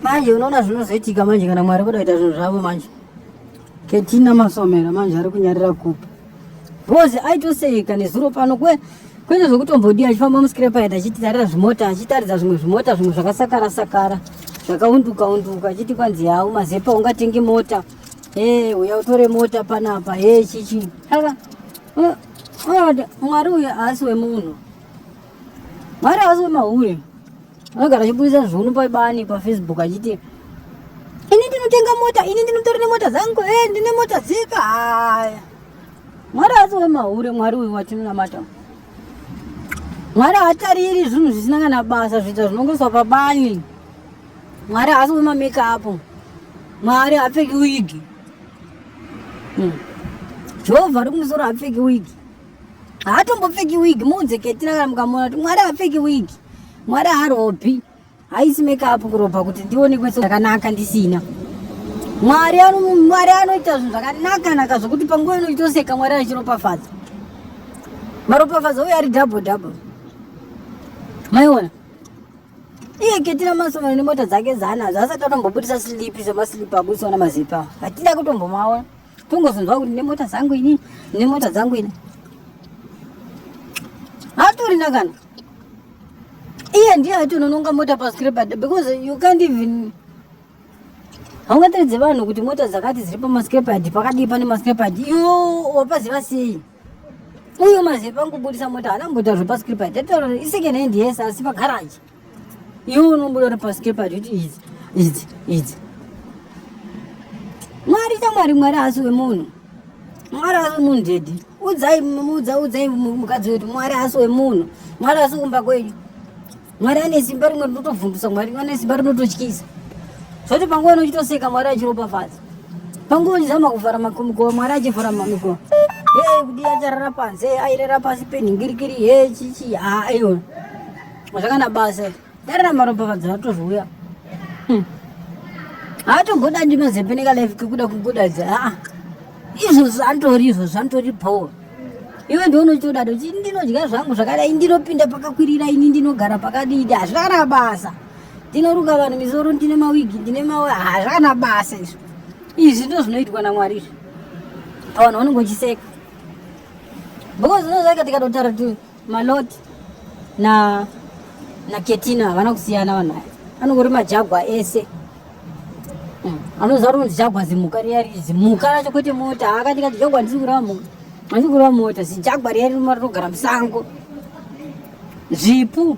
manje unoona zvinozoitika manje kana mwari kuda kuita zvinhu zvavo manje ketina masomera manje ari kunyarira kupi bhozi aitoseka nezuro pano kwe kwete zvekutombodiya achifamba muskrepaid achititarira zvimota achitaridza zvimwe zvimota zvimwe zvakasakara sakara zvakaunduka unduka achiti kwanzi hau mazepa ungatenge mota e uya utore mota panapa e chichi aka mwari uya haasi wemunhu mwari haasi wemahure anogara achiburitsa zvunu pabani pafacebook achiti ini ndinotenga mota ini ndinotori nemota dzangu e eh, ndine mota dzeka haya mwari asi wemahure mwari uyu watinonamata mwari haatariri zvinhu zvisina kana basa zviita zvinongoiswa pabani mwari haasi wemamekapu mwari haapfeki wigi hmm. jehovha ari kumusoro haapfeki wigi haatombopfeki wig muunze ketina kana mukamuona kuti mwari hapfeki wig mwari haropi haisi makeup kurobha kuti ndionekwe zvakanaka ndisina mwari mwari anoita zvinhu zvakanaka naka zvokuti panguva inoitoseka mwari achiropafadza maropafadza uye ari double double maiona iye ketina masoma nemota dzake zana zvaasati atombobudisa silipi semasilipi abudisaona mazipa hatida kutombomaona kungozonzwa kuti nemota dzangu ini nemota dzangu ini hatorina kana iye ndiye atonononga mota pascrepad because you can't even haungateredze vanhu kuti mota dzakati dziri pamascrepad pakadii pane mascrepad iyo wapaziva sei uyo maziva pangubudisa mota haana mbotaurwa pascrepad atotaura isecond hand yes asi pagaraji iwe unobuda uri pasi kepati kuti idzi idzi idzi mwari chamwari mwari haasi wemunhu mwari haasi wemunhu dedi udzai mudza udzai mukadzi wetu mwari haasi wemunhu mwari haasi kumba kwenyu mwari ane simba rimwe rinotobvundusa mwari ane simba rinototyisa zvoti panguva inochitoseka mwari achiropafadza panguva uchizama kuvhara makomikowa mwari achivhara mamikowa e kudi acharara panze airera pasi penhingirikiri e chichi haa iona zvakana basa dare ramaropafadzo ratozouya hmm. haatogoda ndi mazembe nekalife kekuda kugodadza aa izvozvo antori izvozvo antori bhowa iwe ndionochitodado chi ndinodya zvangu zvakadai ndinopinda pakakwirira ini ndinogara pakadidi hazvakana basa ndinoruka vanhu misoro ndine mawigi ndine mawe hazvakana basa izvo izvi ndo zvinoitwa namwari izvi pavanhu vanongotiseka because ndozvakatikatotaratira Malot na na Ketina havana kusiyana vanhu aya. Anongori majagwa ese. Hmm. Anoziva kuti jagwa zimuka riya riri zimuka racho kwete mota. Akati kati jagwa ndiri kurava mota. Ndiri kurava mota. Zijagwa riya riri rogara musango. Zvipu.